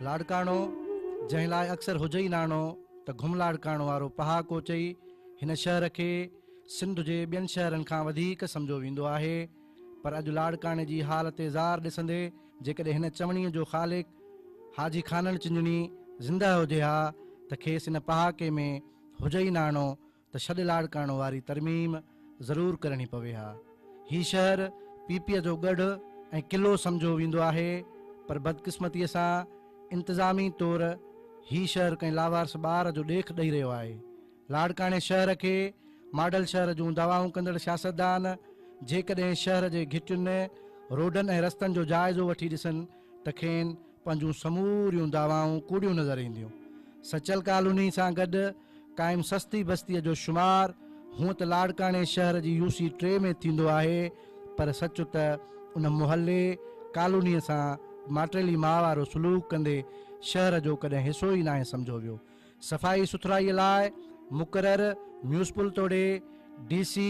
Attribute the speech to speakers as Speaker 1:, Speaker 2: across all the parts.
Speaker 1: لاڙڪاڻو، جنهن لاء اڪثر هجئي ئي ناڻو ته گهملاڙڪاڻو وارو پهاڪو چئي هن شهر کي سنڌ جي ٻين شهرن کان وڌيڪ سمجهيو ويندو آهي پر اڄ لاڙڪاڻي جي حالت زار ڏسندي جيڪڏهن هن چوڻيء جو خالق حاجي خانڻ چنجڻي زنده هجي ها ته کيس ان پهاڪي ۾ هجئي ناڻو ته ڇڏ لاڙ ڪرڻ واري ترميم ضرور ڪرڻي پوي ها. هي شهر پي پي جو ڳڙهه ۽ قلعو سمجهو ويندو آهي پر بدقسمتيء سان انتظامي طور هي شهر ڪنهن لاوارث ٻار جو ڏيک ڏئي رهيو آهي. لاڙڪاڻي شهر کي ماڊل شهر جون دعوائون ڪندڙ سياستدان جيڪڏهن شهر جي گهٽين، روڊن ۽ رستن جو جائزو وٺي ڏسن ته کين پنهنجون سموريون دعوائون ڪوڙيون نظر اينديون. سچل ڪالوني سان گڏ قائم سستي بستيء جو شمار هونء ته لاڙڪاڻي شهر جي يو سي ٽي ۾ ٿيندو آهي پر سچ ته ان محلي، ڪالونيء سان ماٽيلي ماء وارو سلوڪ ڪندي شهر جو ڪڏهن حصو ئي ناهي سمجهيو ويو. صفائي سٿرائيء لاء مقرر ميونسپل توڙي ڊي سي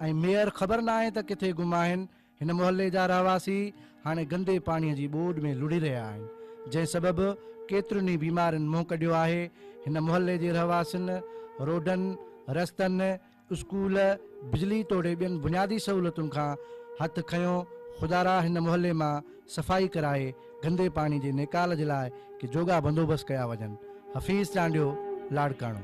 Speaker 1: ۽ ميئر خبر ناهي ته ڪٿي گم آهن هن محلي جا رهواسي هاڻي گندي پاڻي جي ٻوڏ ۾ لڙهي رهيا آهن جنهن سبب ڪيترين ئي بيمارين منهن ڪڍيو آهي هن محلي جي رهواسين روڊن رستن اسڪول بجلي توڙي ٻين بنيادي سهولتن کان هٿ کنيو خدارا هن محلي مان صفائي ڪرائي گندي پاڻي جي نيڪال جي لاء ڪي جوڳا بندوبست ڪيا وڃن، حفيظ چانڊيو لاڙڪاڻو.